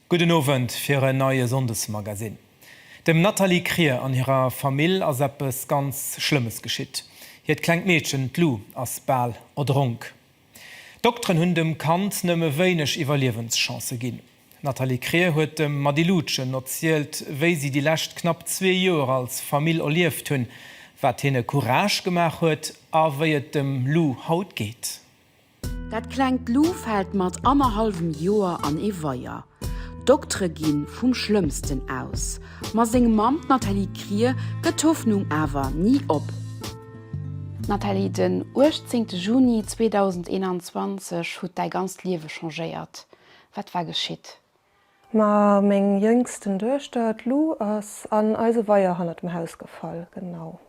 Gudden Owend fir en neie Sonndesmagasinn. Dem Nathalie Krier an hirer Famill ass eppes ganz Schlëmmes geschitt. Hiert klengt Meedchen, d'Lou, ass bal erdronk. D'Dokteren hunn dem Kand nëmme wéineg Iwwerliewenschancë ginn. D'Nathalie Krier huet dem Mady Lutgen erzielt, wéi si déi lescht knapp zwee Joer als Famill erlieft hunn, wat hinne Courage gemaach huet a wéi et dem Lou haut geet. Dat klengt Lou fält mat annerhallwem Joer an ee Weier. D'Doktere gi vum Schlëmmsten aus, ma seng Mamm, d'Nathalie Krier, gëtt d'Hoffnung awer ni op. D'Nathalie, den 18 Juni 2021 hutt däi ganzt Liewe changéiert, wat war geschitt? Ma meng jéngsten Duechter, d'Lou, ass an eise Weier hannert dem Haus gefall, genau.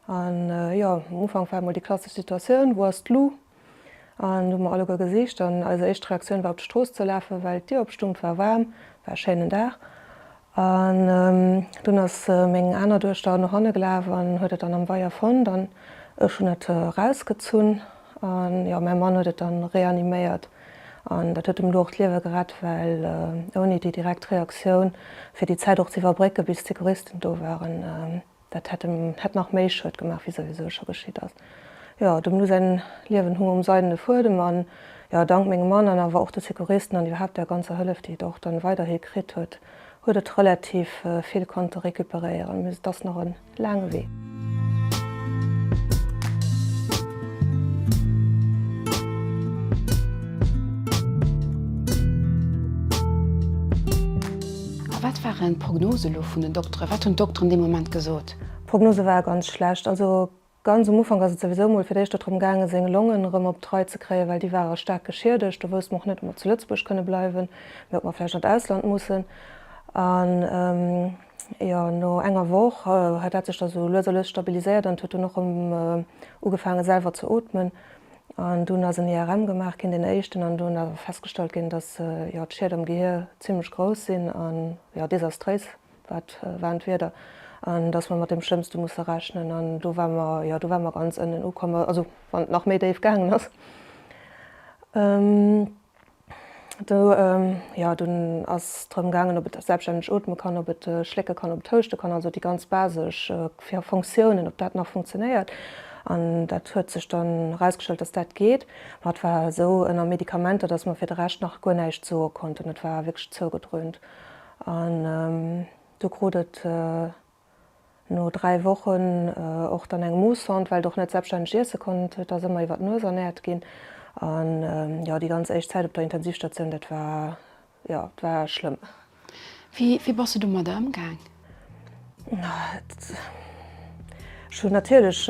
An jo, um Ufank war emol déi klassesch Situatioun, wou ass d'Lou? An do hu mer alleguer gesicht an eis éischt Reaktioun war op d'Strooss ze lafen, well d'Dier op stung. War waarm, war e schéinen Dag an dunn ass meng aner Duechter no hanne gelaf an huet et dann am Weier fonnt an ech hunn et erausgezunn an jo mäi Mann huet et dann reaniméiert an dat huet dem Lou och d'Liewe gerett, well ouni déi direkt Reaktioun fir déi Zäit och ze iwwerbrécken bis d'Secouristen do waren, Dat hätt em hätt nach méi Schued gemaach wéi souwisou scho geschitt ass. Jo, dem Lou säin Liewen hung um seidene Fuedem an jo, dank mengem Mann an awer och de Secouristen an iwwerhaapt der ganzer Hëllef déi et och dann weiderhi kritt huet, huet et relativ vill konnte récupéréieren, mais et ass nach en laange Wee. A wat waren d'Prognose elo vun den Dokteren? Wat hunn d'Dokteren dee Moment gesot? D'Prognose war ganz schlecht. Also ganz um Ufank ass et souwisou emol fir d'éischt der drëm gaangen, seng Longen erëm op d'Rei ze kréien, well déi ware staark geschiedegt. Do wousste mer och net, ob mer zu Lëtzebuerg kënne bleiwen, mee ob mer vläicht an d'Ausland mussen. An jo, no enger Woch hat dat sech da sou lues a lues stabiliséiert an et huet dunn och erëm ugefaangen, selwer ze ootmen. An dunn ass en IRM gemaach ginn, deen éischten, an do hunn awer festgestallt ginn, datt jo d'Schied am Gehier zimmlech grouss sinn a jo desastréis wat waren d'Wierder, an datt mer mat deem Schlëmmste musse rechnen. An do ware mer, jo do ware mer ganz ënnen ukomm, also wann et nach méi déif gaangen ass. Do, jo, dunn ass drëm gaangen, ob et selbststänneg ootme kann, ob et schlécke kann, ob et houschte kann, also déi ganz basesch Fonctiounen, ob dat nach funktionéiert. An dat huet sech dann erausgestallt, dass dat geet. Mä et war esou ënner Medikamenter, dass mer fir de Rescht nach guer näischt soe konnten. Et war wierklech zougedrönt. An do krut et No dräi Wochen och dann eng Moossond, well et och net selbststänneg iesse konnt, huet ass ëmmer iwwer d'Nues ernäert ginn. An jo, déi ganz éischt Zäit op der Intensivstatioun, dat war jo, et war schlëmm. Wéi wéi bass du domadder ëmgaang? Ech hunn natierlech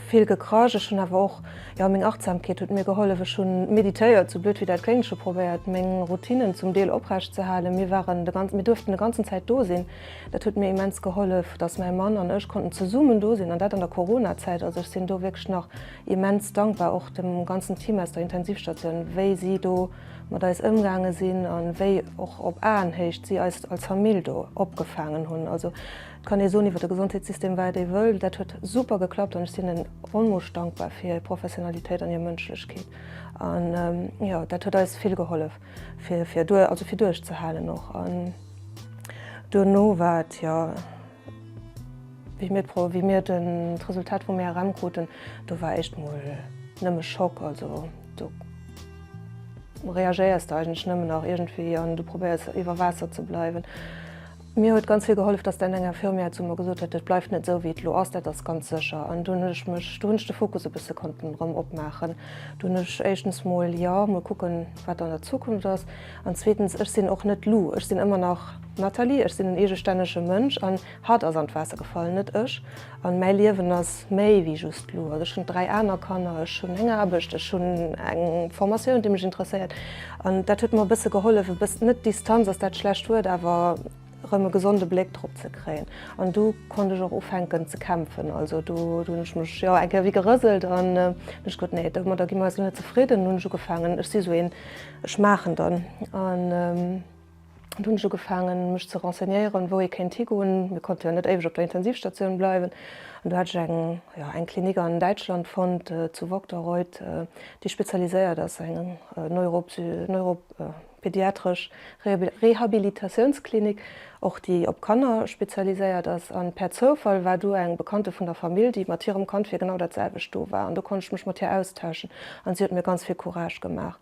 vill gekrasch. Ech hunn awer och, jo, meng Achtsamkeet huet mir gehollef. Ech hunn meditéiert, sou blöd wéi dat kléngt. Ech hu probéiert meng Routinnen zum Deel oprecht ze halen. Mir waren de ganz, mir duerften de ganzen Zäit do sinn. Dat huet mir immens gehollef, dass mäi Mann an ech konnten zesummen do sinn, an dat an der Coronazäit. Also ech sinn do wierklech nach immens dankbar, och dem ganzen Team aus der Intensivstatioun, wéi si do mat eis ëmgaange sinn a wéi och op Aenhéicht si eis als Famill do opgefaangen hunn. Also et kann ee soen iwwer de Gesondheetssystem wat ee wëll, dat huet super geklappt an ech sinn en onmoosch dankbar fir hir Professionalitéit an hir Mënschlechkeet. An jo, dat huet eis vill gehollef. Fir, fir duer, also fir duerchzehalen och. An duerno war et jo, wéi mir d'Pro, wéi mir den, d'Resultat vum ERM kruten, do war éischt mol nëmme Schock. Also do reagéiers de eigentlech nëmmen nach iergendwéi an du probéiers iwwer Waasser ze bleiwen. Mir huet ganz vill gehollef, dass d'Anne eng Infirmière zu mer gesot huet, dat bleift net esou wéi et elo ass, dat ass ganz sécher. An do hunn ech mech, do hunn ech de Fokus e bësse konnten erëm opmaachen. Do hunn ech éischtens mol, jo, mol kucken, wat an der Zukunft ass. An zweetens, ech sinn och net Lou, ech sinn ëmmer nach d'Nathalie, ech sinn en eegestännege Mënsch an hatt ass an d'Waasser gefall, net ech. An mäi Liewen ass méi wéi just Lou. Also ech hunn dräi aner Kanner, ech hunn eng Aarbecht, ech hunn eng Formatioun, déi mech interesséiert. An dat huet mer e bësse gehollef, e bëss-, net Distanz ass dat schlecht Wuert, awer erëm e gesonde Bléck drop ze kréien. An du konnt ech och ufänken ze kämpfen. Also do hunn ech mech, jo, eng Kéier ewéi gerëselt an hunn ech gewuet, nee, domadder gi mer eis elo net zefridden. An hunn ech ugefaangen, ech si esou een, ech maachen dann. An. Do hunn ech ugefaangen, mech ze renseignéieren, wou ee kéint higoen. Mir konnte jo net éiweg op der Intensivstatioun bleiwen. An do hat ech eng, jo, eng Klinik an Däitschland fonnt, zu Vogtereuth, déi spezialiséiert ass, eng neuropsy, neuro, pediatresch Rehabilitatiounsklinik, och déi op Kanner spezialiséiert ass. An per Zoufall war do eng Bekannte vun der Famill, déi mat hirem Kand fir genau dat selwecht do war. An do konnt ech mech mat hir austauschen an si huet mir ganz vill Courage gemaach.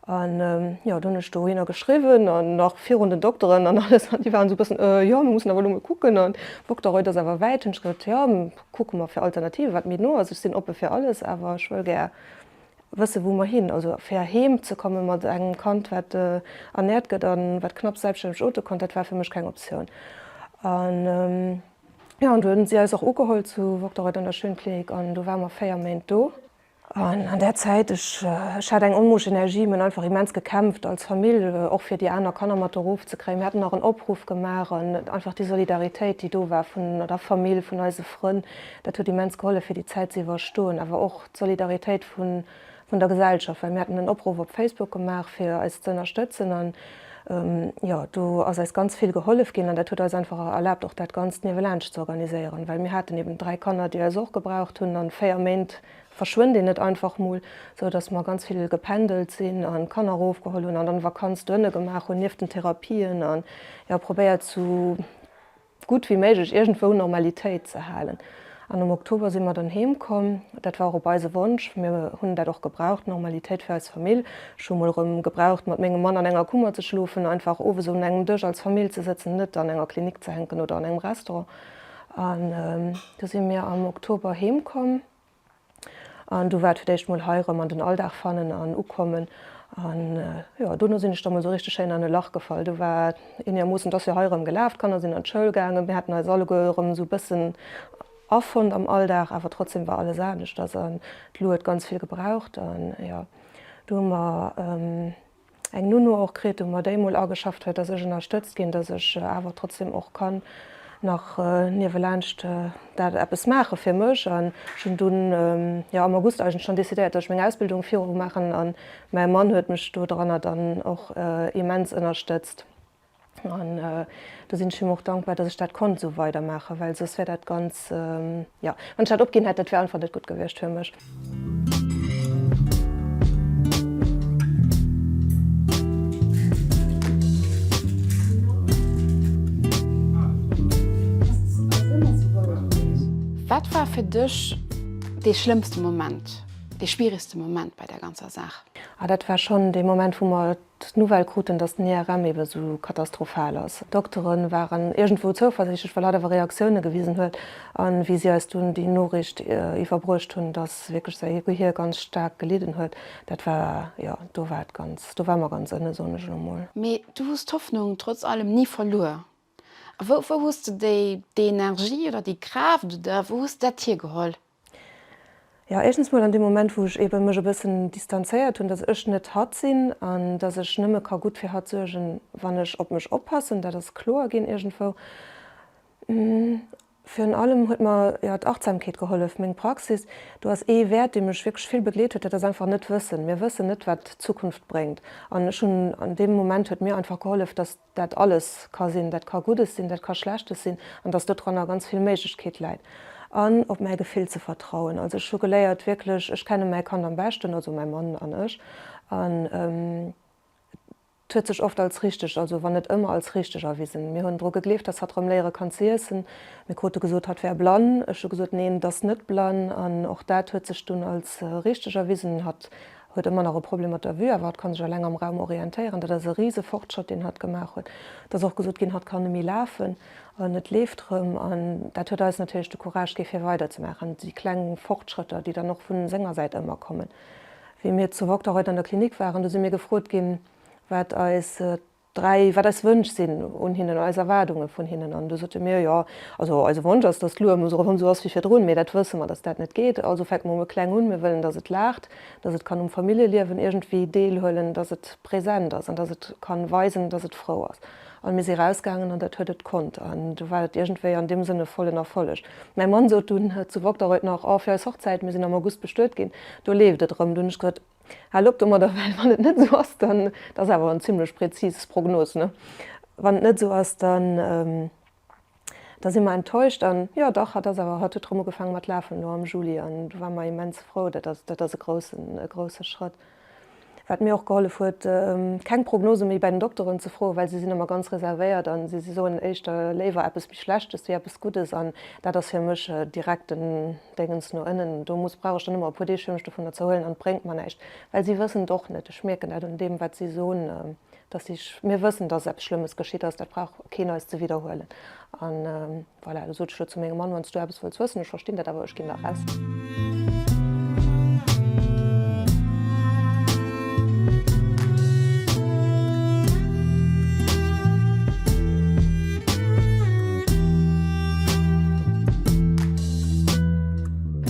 An jo, do hunn ech dohinner geschriwwen an nach virun den Dokteren an alles, an déi waren esou e bëssen, Äh, jo, mir mussen awer elo emol kucken an Vogtereuil, dat ass awer wäit. Hunn ech gesot, jo, kucke mer fir Alternative wat méi no ass. Ech sinn oppe fir alles, awer ech wëll gär wëssen, wou mer hin, also fir heem ze komme mat engem Kand, wat ernäert gëtt a wat knapps selbststänneg ote konnt, dat war fir mech keng Optioun. An jo, an du hunn si eis och ugeholl zu Vogtereuil an der Schönklinik an du ware mer 4 Méint do. An an där Zäit, ech ech hat eng onmoosch Energie, mir hunn einfach immens gekämpft als Famill, och fir déi aner Kanner mat erof ze kréien. Mir haten nach en Opruff gemaach an einfach déi Solidaritéit, déi do war vun der Famill, vun eise Frënn, dat huet immens gehollef, fir déi Zäit ze iwwerstoen. Awer och d'Solidaritéit vun vun der Gesellschaft, well mir haten en Opruff op Facebook gemaach, fir eis ze ënnerstëtzen an. Jo, do ass eis ganz vill gehollef ginn an dat huet eis einfach erlaabt, och dat Ganzt niewelaanscht ze organiséieren. Well mir haten eben dräi Kanner, déi eis och gebraucht hunn an véier Méint verschwënnt een net einfach mol. Sou dass mer ganz vill gependelt sinn an d'Kanner erof geholl hunn an dann Vakanz dohinne gemaach hunn, nieft den Therapien, an jo probéiert zu gutt wéi méiglech iergendwou Normalitéit ze halen. An am Oktober si mer dann heem komm. Dat war och op eise Wonsch. Mir hunn dat och gebraucht, Normalitéit fir eis Famill. Ech hu mol erëm gebraucht mat mengem Mann an enger Kummer ze schlofen, einfach owes un engem Dësch als Famill ze sëtzen, net an enger Klinik ze hänken oder an engem Restaurant. An du si mir am Oktober heem komm. An do war et fir d'éischt mol hei erëm an den Alldag fannen an ukommen. An jo, dono sinn ech da mol esou richteg schéin an e Lach gefall. Do war et eenermoossen, et ass jo hei erëm gelaf, d'Kanner sinn an d'Schoul gaangen, mir haten eis alleguer erëm esou e bëssen afonnt am Alldag. Awer trotzdeem war alles aneschters an d'Lu huet ganz vill gebraucht. An jo, do hu mer. eng Nounou och kritt hu mer déi mol ageschafft huet, dass ech ënnerstëtzt ginn, dass ech awer trotzdem och kann nach niewelaanscht dat eppes maache fir mech an ech hunn dunn jo am August eigentlech schonn decidéiert, dass ech meng Ausbildung viru maachen an mäi Mann huet mech do dranner dann och immens ënnerstëtzt. An do sinn ech him och dankbar, dass ech dat konnt esou weidermaachen, well soss wär dat ganz, jo, wann ech dat opginn hätt, dat wär einfach net gutt gewiescht fir mech. Wat war fir dech dee schlëmmste Moment, dee schwierigste Moment bei där ganzer Saach? Ah, dat war schonn dee Moment, wou mer d'Nouvelle kruten, datt den IRM ebe sou katastrophal ass. D'Doktere waren iergendwou zouversichtlech, well hatt awer Reaktioune gewisen huet a wéi si eis dunn déi Noriicht iwwerbruecht hunn, datt wierklech säi Gehier ganz staark gelidden huet, dat war, jo, do war et ganz, do war mer ganz ënne, soen ech elo mol. Mee du hues d'Hoffnung trotz allem ni verluer. A wou hues de déi, déi Energie oder déi Kraaft oder wou hues de dat hiergeholl? Jo, éischtens mol an deem Moment, wou ech eebe mech e bëssen distanzéiert hunn, dass ech net hatt sinn an dass ech nëmme ka gutt fir hatt suergen, wann ech op mech oppassen. Dat ass kloer ginn iergendwou. Virun allem huet mer, jo, d'Achtsamkeet gehollef, meng Praxis. Do ass ee Wäert, dee mech wierklech vill begleet huet, dat ass einfach Net-Wëssen. Mir wëssen net, wat d'Zukunft bréngt. An ech hunn, an deem Moment huet mir einfach gehollef, dass dat alles ka sinn, dat ka Guddes sinn, dat ka Schlechtes sinn, an dass dodranner ganz vill Méiglechkeet läit, an op mäi Gefill ze vertrauen. Also ech hu geléiert wierklech, ech kenne mäi Kand am beschten, also mäi Mann an ech, an et huet sech oft als richteg, also wann net ëmmer, als richteg erwisen. Mir hunn dru gegleeft, dass hatt erëm léiere kann ze iessen. Mir krute gesot, hatt wär blann. Ech hu gesot, neen, et ass net blann, an och dat huet sech dunn als richteg erwisen. Hatt huet ëmmer nach e Problem mat der Vue, awer hatt ka sech eleng am Raum orientéieren. Dat ass e rise Fortschrëtt, deen hatt gemaach huet. Et ass och gesot ginn, hatt kann ëmi lafen an et leeft erëm. An dat huet eis natierlech de Courage gi fir weiderzemaachen. Déi kleng Fortschrëtter, déi dann och vu senger Säit ëmmer kommen. Wéi mir zu Vogtland haut an der Klinik waren, do si mir gefrot ginn, wat eis 3, wat eis Wënsch sinn un hinnen, eis Erwaardunge vun hinnen. An du sote mir, jo, also eise Wonsch ass, datt d'Lua muss erëm esou ass wéi virdrun. Mee dat wësse mer, datt dat net geet. Also fänke mer mol kleng un. Mir wëllen, datt et laacht, datt et kann um Familljeliewen iergendwéi deelhuelen, datt et present ass an datt et ka weisen, datt et frou ass. An mir si rausgaangen an dat huet et konnt. An du war et iergendwéi an deem Sënn e vollen Erfolleg. Mäi Mann sot dunn zu Vogteraud nach, oh, fir eis Hochzäit, mir sinn am August bestuet ginn, do leeft et erëm. Du hunn ech gesot, Haal op domadder, well wann et net esou ass, dann, dat ass awer en zimlech präzis Prognos, ne, wann et net esou ass, dann, da si mer enttäuscht. An jo, dach, hatt ass awer, hatt huet erëm ugefaange mat lafen elo am Juli an do ware mer immens frou. Dat ass, dat ass e groussen, e grousse Schrëtt. Wat mir och gehollef huet, keng Prognose méi bei den Dokteren ze froen, well si sinn ëmmer ganz reservéiert a si soen éischter léiwer eppes méi Schlechtes wéi eppes Guddes an dat ass fir mech direkt en, Déngens no ënnen do muss, brauch ech dann ëmmer e puer Deeg fir mech dovunner ze erhuelen an et bréngt mer näischt, well si wëssen et och net. Ech mierken dat un deem, wat si soen, dass si, mir wëssen, dass eppes Schlëmmes geschitt ass, dat brauch keen eis ze widderhuelen. A voilà, da sot ech elo zu mengem Mann, wann s du eppes wëlls wëssen, ech verstinn dat, awer ech ginn da raus.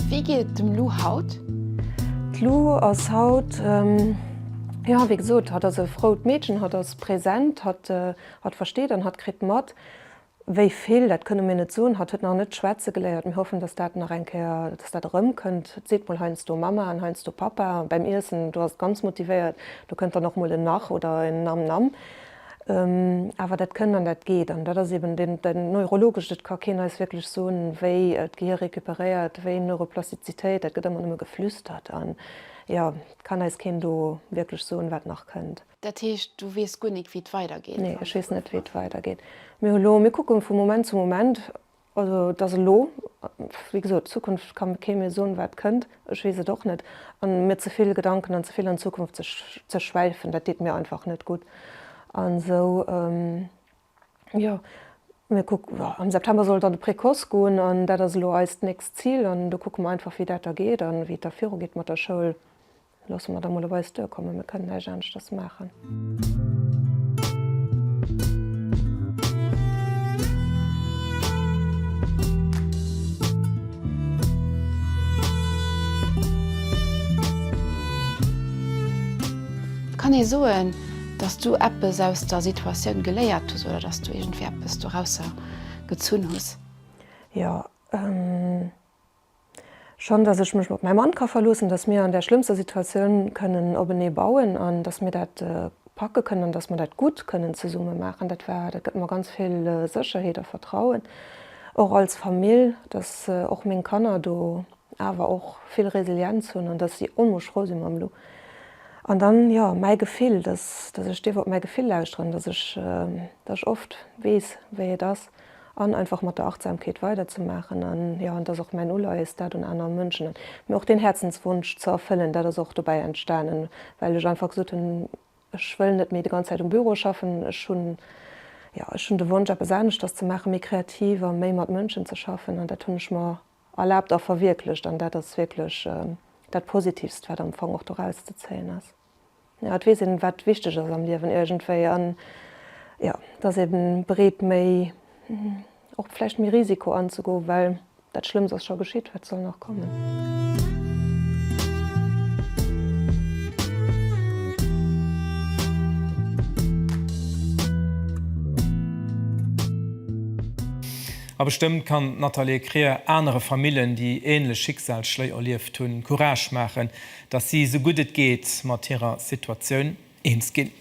Wéi geet et dem Lou haut? D'Lou ass haut, jo wéi gesot, hatt ass e frout Meedchen, hatt ass präsent, hatt versteet an hatt kritt mat. Wéi vill, dat kënne mir net soen. Hatt huet nach net schwätze geléiert. Mir hoffen, datt dat nach eng Kéier, datt dat erëmkënnt. Seet mol heiansdo Mama an heiansdo Papa bäim Iessen, do ass et ganz motivéiert. Do kënnt dann och mol en Nach oder en Nam Nam. Awer dat kënnt an dat geet. An dat ass eben dat Neurologescht, et ka keen eis wierklech soen, wéi d'Gehir recuperéiert, wéi Neuroplastizitéit, dat gëtt ëmmer nëmme geflüstert. An jo, et kann eis keen do wierklech soen, wat nach kënnt. Dat heescht, du weess guer nik, wéi et weidergeet? Nee, ech weess net, wéi et weidergeet. Mir hu lo, mir kucke vu Moment zu Moment. Also, et ass elo, wéi gesot, d'Zukunft ka kee mir soen, wat kënnt. Ech weess et och net. A mir ze vill Gedanken an ze vill an d'Zukunft ze schwäifen, dat deet mir einfach net gutt. An esou, jo, mir kucke, am September soll et an de Précoce goen. An dat ass elo eist nächst Zil. An do kucke mer einfach, wéi dat da geet an wéi et da virugeet mat der Schoul. Loosse mer da mol op eis duerkommen, mir kënnen näischt aneschters maachen. Kann ee soen, dass du eppes aus der Situatioun geléiert hues oder dass du iergendwéi eppes dorausser gezunn hues? Jo. Schonn, dass ech mech op mäi Mann ka verloossen, dass mir an där schlëmmster Situatioun kënnen openee bauen an dass mir dat packe kënnen an dass mer dat gutt kënnen zesumme maachen, dat war, dat gëtt mer ganz vill Sécherheet a Vertrauen och als Famill, dass och meng Kanner do awer och vill Resilienz hunn an dass si onmoosch frou si mam Lou. An dann, jo, mäi Gefill, dass, dass ech dierf op mäi Gefill lauschteren, dass ech, dass ech oft weess, wéi et ass. an einfach mat der Achtsamkeet weiderzemaachen an jo, an et ass och mäin Uleies dat un aner Mënschen an mir och deen Häerzenswunsch ze erfëllen, dat ass och dobäi entstanen well ech einfach gesot hunn, ech wëll net méi déi ganz Zäit um Büro schaffen, ech hunn jo, ech hunn de Wonsch eppes aneschters ze maachen, méi kreativ a méi mat Mënschen ze schaffen an dat hunn ech mer erlaabt a verwierklecht an dat ass wierklech dat Positivst wat am Fong och doraus ze zéien ass. Jo, et weess een, wat wichteg ass am Liewen iergendwéi an jo, dass ee bereet méi, och vläicht méi Risiko anzegoen, well dat Schlëmms ass scho geschitt, wat soll nach kommen? A bestëmmt kann d'Nathalie Krier anere Famillen, déi änlech Schicksalsschléi erlieft hunn, Courage maachen, datt si esou gutt et geet mat hirer Situatioun eens ginn.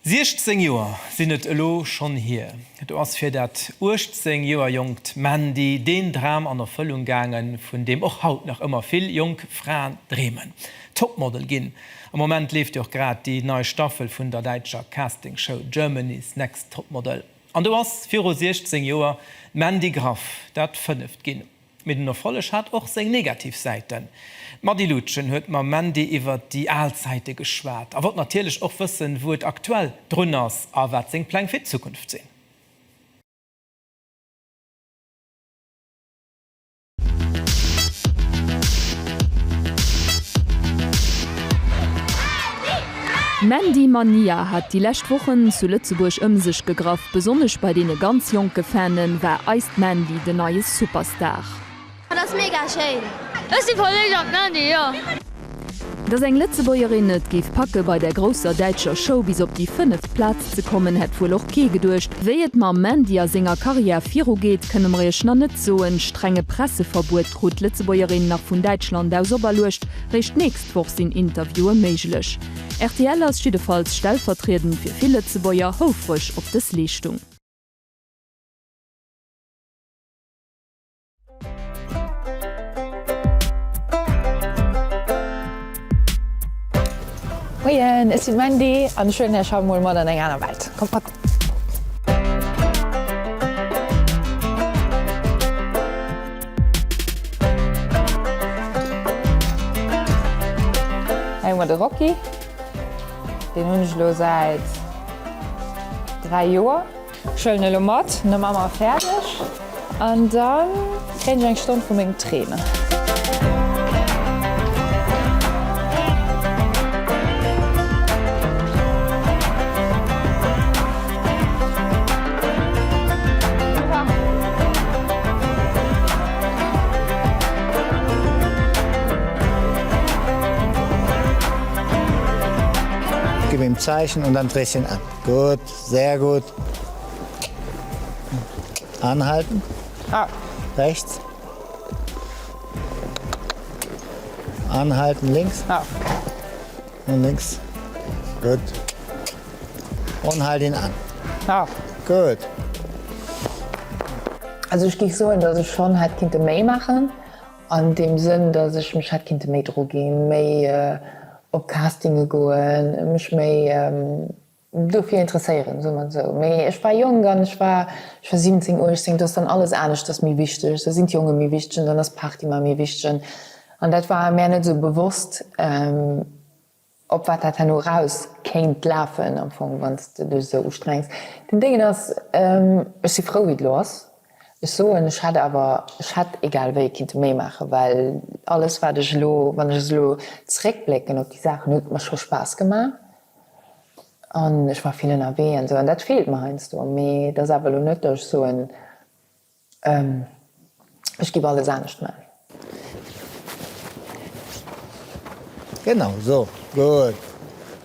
16 Joer sinn et elo schonn hier, do ass fir dat 18 Joer jonkt Mandy deen Dram an Erfëllung gaangen, vun deem och haut nach ëmmer vill jonk Fraen dreemen, Topmodel ginn. Am Moment leeft jo och grad déi nei Staffel vun der däitscher Castingshow Germany's Next Topmodel an do ass viru 16 Joer d'Mandy Graff dat fënneft ginn. Mee den Erfolleg hat och seng negativ Säiten. D'Mady Lutgen huet mam Mandy iwwert déi al Zäite geschwat a wollt natierlech och wëssen, wou et aktuell drun ass a wat seng Pläng fir d'Zukunft sinn. D'Mandy Mania hat déi lescht Wochen zu Lëtzebuerg ëm sech gegraff. Besonnesch bei deene ganz jonke Fane war eist Mandy den neie Superstar. Dat ass mega schéin! Ech si verléift an d'Mandy, jo! Dass eng Lëtzebuergerin et géif packe bei der grousser däitscher Show bis op déi fënneft Plaz ze kommen, hätt wuel och kee geduecht. Wéi et mam Mandy a senger Karriär virugeet, kënne mer iech nach net soen. Strenge Presseverbuet krut d'Lëtzebuergerin nach vun Däitschland aus operluecht. Réischt d'nächst. D'Woch sinn Interviewe méiglech. Rtl ass jiddefalls stellvertriedend fir vill Lëtzebuerger houfreg op dës Leeschtung. Moien, ech si d'Mandy an ech huelen Iech haut mol mat an eng aner Welt. Kommt mat! Hei hu mer de Rocky. Deen hunn ech elo säit 3 Joer. Schëllen elo mat, no Mamma, fäerdeg! An da kréien ech eng Stonn vu mengem Trainer. Gib ihm Zeichen und dann dreh ihn an. Gut. Sehr gut. Anhalten. Ah. Rechts. Anhalten links. Ah. Und links. Gut. Und halt ihn an. Ah. Gut. Also ich gehe so, dass ich schon halt Kinder mehr machen. An dem Sinn, dass ich mich halt Kinder mehr drogen, mehr äh, auf Castinge gehen, mich mehr ähm, Dofir interesséieren, soe mer esou. Mee ech war jonk an ech war, ech war 17, 18, do ass dann alles anescht, ass méi wichteg, do sinn d'Jonge méi wichteg an dann ass d'Party mar méi wichteg an an dat war mär net esou bewosst, op wat dat herno eraus kéint lafen am Fong, wann s de dech esou ustrengs. Den Déngen ass, ech si frou, wéi et elo ass. Ech soen, ech hätt awer, ech hätt egal wéi kinnte méi maachen, well alles, wat ech elo, wann ech elo zréckblécken op déi Saachen, huet mer scho Spaass gemaach. An ech war vill ënnerwee an esou an dat feelt mer heiansdo. Mee et ass awer elo net, datt ech soen, ech giff alles anescht man. Genau sou, gutt.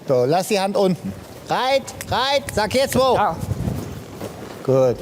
Do, laass déi Hand unten. Reit, reit, sag, Hir zwou. Gutt.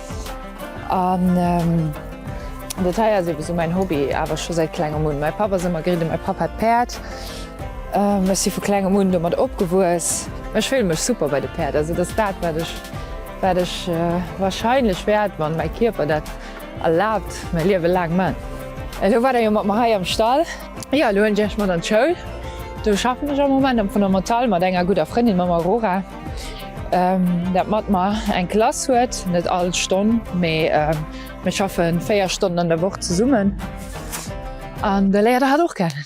An dat hei ass ebe sou mäin Hobby, awer scho säit klengem un. Mäi Papp ass ëmmer geriden, mäi Papp hat Päerd. Ech si vu klengem un domat opgewuess. Ech fillen mech super bei de Päerd. Also et ass dat, wat ech, wat ech wahrscheinlech wäert, wann mäi Kierper dat erlaabt, mäi Liewe laang man. Elo waart der jo mat mer hei am Stall. Jo, elo hunn ech Iech mat an d'Schoul. Do schaffen ech am Moment am Fondamental mat enger gudder Frëndin, mam Aurora. Dat mat mer eng Klass huet, net all Stonn, mee mir schaffen 4 Stonnen an der Woch zesummen an da léiert Der hatt och kennen.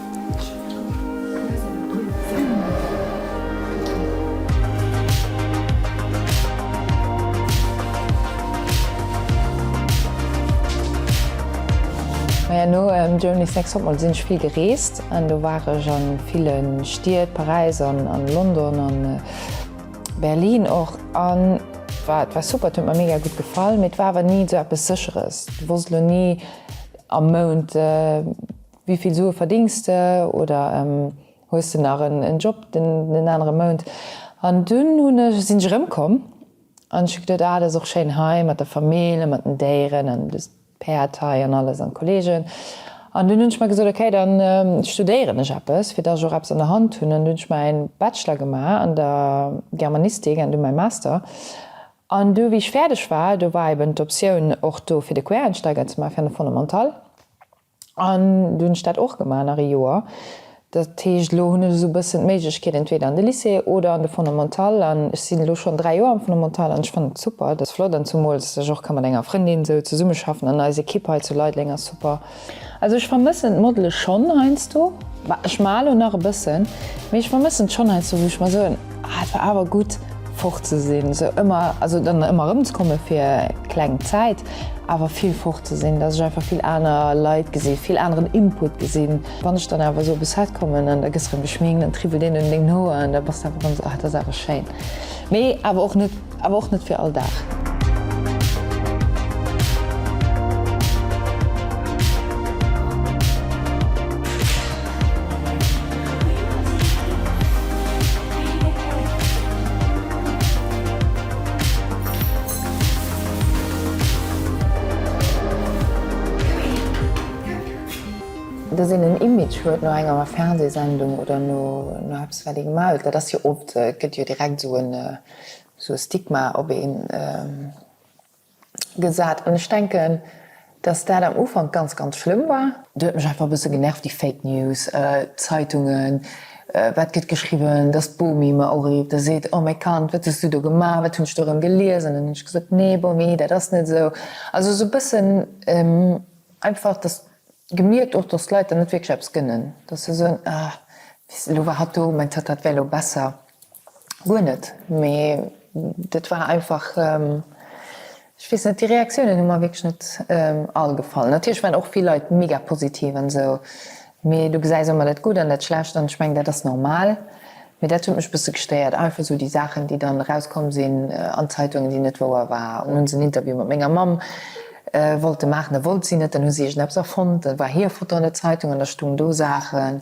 Maja no Germany Sex Topmodel sinn ech vill gereest an do war ech an villen Stied, Paräis an London an Berlin och an et war super, et huet mer mega gutt gefall mee et war awer ni sou eppes secheres. Du wosst elo ni am Mount Wéi vill Sue verdéngs de? Oder hues de nach en Job den anere Mount? An dunn hunn ech, sinn ech erëmkomm an ech hu geduet, ah dat ass och schéin hei mat der Famill an mat den Déieren an dës Päerd hei an alles an d'Kollegen. An dunn hunn ech mer gesot, okay da studéieren ech eppes, fir dass ech och eppes an der Hand hunn. An dunn hunn ech mäin Bachelor gemaach an der Germanistik an dunn mäi Master. An du wéi ech fäerdeg war, do war eben d'Optioun och do fir de Quereinsteiger ze maachen, fir an de Fondamental. An du hunn ech dat och gemaach nach e Joer. Dat heescht, elo hunn ech esou e bëssen d'Méiglechkeet entweder an de Lycée oder an de Fondamental. An ech sinn elo schonn dräi Joer am Fondamental an ech fannen et super. Et ass flott an zumools ech och ka mat enger Frëndin esou zesummeschaffen an eis Ekipp hei zu Leideleng ass super. Also ech vermëssen d'Modele schonn heiansdo, bah ech maler elo nach e bëssen, mee ech vermëssen et schonn heiansdo wou ech mer soen, Ah et war awer gutt fort ze sinn, sou ëmmer, also dann ëmmer erëm ze komme fir kleng Zäit, awer vill fort ze sinn, dass ech einfach vill aner Leit gesi, vill aneren Input gesinn. Wann ech dann awer esou op e Set kommen an da gëss erëm geschminkt, dann triwwelt een un dengem Hoer an da bass de einfach erëm esou, ah et ass awer schéin, mee awer och net. Awer och net fir all Dag. Dass een en Image huet no enger Fernsehsendung oder no eppes wat ee gemaach huet, dat ass jo oft, gëtt jo direkt esou e sou e Stigma op ee gesat. An ech denken, datt dat am Ufank ganz, ganz schlëmm war. Do huet mech einfach e bësse genervt, déi Fake News, d'Zeitungen, wat gëtt geschriwwen, datt d'Bomi mer urift a seet, Oh mäi Kand, wat hues du do gemaach, wat hunn ech do erëm gelies? An dann hunn ech gesot, Nee Bomi, dat ass net esou. Also sou e bëssen einfach, datt gemierkt och, datt d'Leit dann net wierklech eppes gënnen, datt se soen, Ah, elo war hatt do, mäin Tatt, dat wär elo besser. Guer net, mee dat war einfach, ech weess net, déi Reaktiounen hu mer wierklech net all gefall. Natierlech waren och vill Leit mega positiv an esou, mee du gesäis ëmmer dat Gutt an dat Schlecht an ech mengen, dat ass normal. Mee dat huet mech e bësse gestéiert, einfach esou déi Saachen, déi dann erauskomm sinn an d'Zeitungen, déi net wouer waren. Dann hu se en Interview mat menger Mamm wollte maachen, da wollt si net, dann hu si iergendeppes erfonnt, da war hir Foto an der Zeitung an da stoungen do Saachen.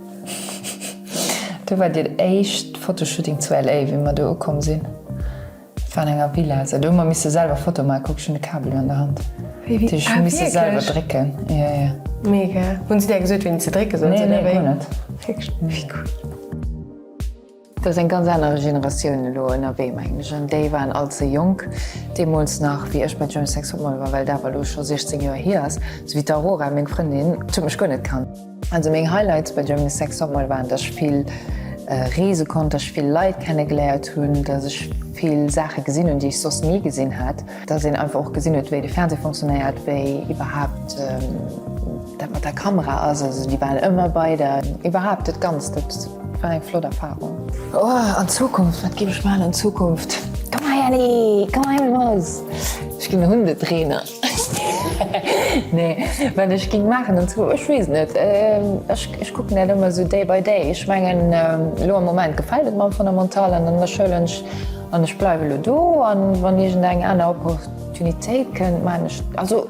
Do war den éischt Fotoshooting zu LA wéi mer do ukomm sinn. Et war an enger Villa, sou do hu mer misse selwer Foto maachen. Kuck ech hunn de Kabel an der Hand, déi ech hu misse selwer drécken. Jo jo. Mega. Hunn se där gesot wéini se drécke sollen? Nee, nee, guer net. Wéi cool. Dat ass eng ganz aner Generatioun elo ënnerwee, mengen ech, an déi waren all ze jonk deemools nach, wéi ech mat Jamie Sex Hot Mall war, well dat awer elo scho 16 Joer hier ass, esou wéi d'Aurora, meng Frëndin, d'huet mech guer net kannt. Also meng Highlights bei Germany's Sex Top Model waren, datt ech vill reese konnt, datt ech vill Leit kennegeléiert hunn, datt ech vill Saache gesinn hunn, déi ech soss ni gesinn hat. Dass een einfach och gesinn huet, wéi de Fernseh funktionéiert, wéi iwwerhaapt dat mat der Kamera ass, also déi waren ëmmer bei der, iwwerhaapt dat Ganzt, dat war eng flott Erfahrung. Oh, an Zukunft, wat géif ech maachen an Zukunft? Komm hei, Elli, komm hei mat eis, ech ginn Hundetrainer. Nee, wat ech géing maachen an Zukunft, ech weess net, ech kucken dat ëmmer esou day by day. Ech mengen, elo am Moment gefält et mer am Fondamental an an der Schoul hunn ech, An ech bleiwe lo do an wann iergend eng aner Opportunitéit kënnt, maachen ech et. Also,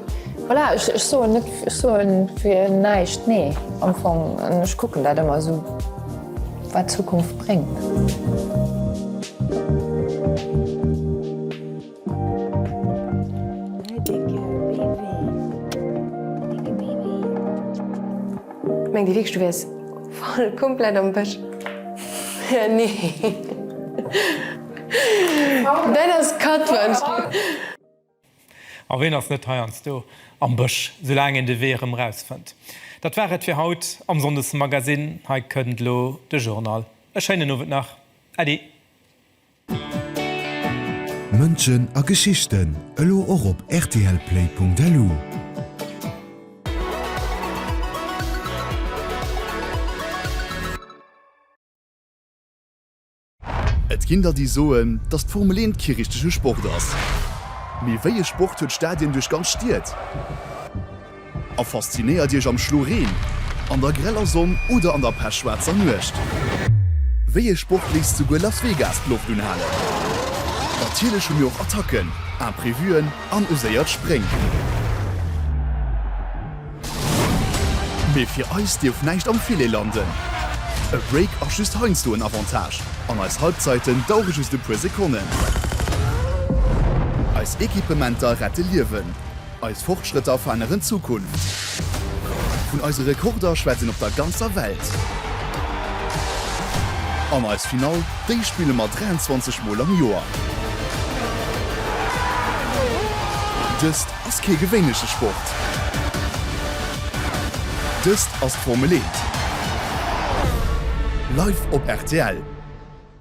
voilà, ech soen net, ech soen fir näischt nee am Fong an ech kucken dat ëmmer esou, wat d'Zukunft bréngt. Ech mengt dir wierklech du wärs voll komplett am Bësch? Nee. Dat ass Katwand. A ween ass net heiansdo am Bësch, soulaang een de Wee erëm rausfënnt? Dat war et fir haut am Sonndesmagasinn. Hei kënnt elo de Journal. E schéinen Owend nach. Äddi. Mënschen a Geschichten, elo och op rtlplay.lu. Et ginn der déi soen, datt d'Formel 1 kee richtege Sport ass. Mee wéi e Sport huet Stadien duerch ganz Stied? A faszinéiert Iech am Schlo Reen, an der greller Sonn oder an der pechschwaarzer Nuecht. Wéi ee Sport léisst souguer Las Vegas d'Loft unhalen? Natierlech hu mir och Attacken, Imprevuen an e séiert Spréng. Mee fir eis dierf näischt am Filet landen. E Break ass just heiansdo en Avantage, an eis Halbzeiten dauere just e puer Sekonnen. Eis Equipementer rette Liewen. Eis Fortschrëtter veränneren d'Zukunft. Vun eise Rekorder schwätzt een op der ganzer Welt. An eis Finall, déi spille mer 23 Mol am Joer. Dëst ass kee gewéinleche Sport. Dëst ass d'Formel Eent. Live op rtl.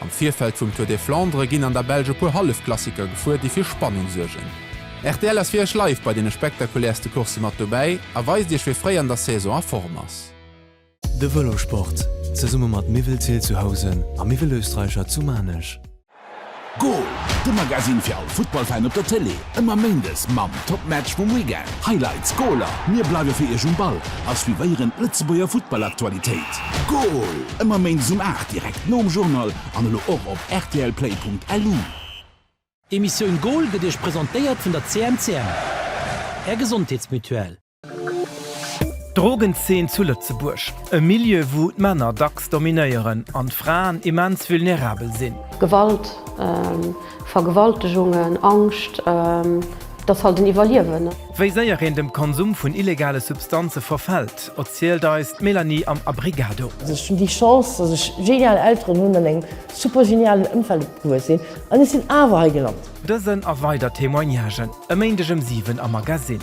Am Virfeld vum Tour des Flandres ginn an der Belsch e puer Hallefklassiker gefuer, déi fir Spannung suergen. Rtl ass fir Iech live bei deene spektakulärste Coursse mat dobäi a weist Iech, wie fréi an der Saison a Form ass. De Vëlossport zesumme mat Miwelzeel zu Housen a Miwelösterreicher zu Maarnech. Goal! De Magasinn fir all Futtballfan op der Tëlee. Ëmmer Méindes mam Topmatch vum Weekend, Highlights, Goaler, mir bleiwe fir Iech um Ball a suivéieren d'Lëtzebuerger Futtballaktualitéit. Goal! Ëmmer Méindes um 8, direkt nom Journal an elo och op rtlplay.lu. D'Emissioun Goal gëtt Iech presentéiert vun der CMCM, Är Gesondheetsmutuelle. D'Drogenzeen zu Lëtzebuerg, e Milieu wou d'Männer dacks dominéieren an d'Fraen immens vulnerabel sinn. Gewalt, Vergewaltegungen, Angscht, dat ass halt den Iwwerliewen. Wéi séier een dem Konsum vun illegale Substanze verfält, erzielt eis d'Mélanie am Abrigado. Ech hunn déi Chance, dass ech genial Elteren hunn an engem super genialen Ëmfeld opgewuess sinn, an ech sinn awer hei gelant. Dësen a weider Témoignagen e Méindeg ëm 7 am Magasinn.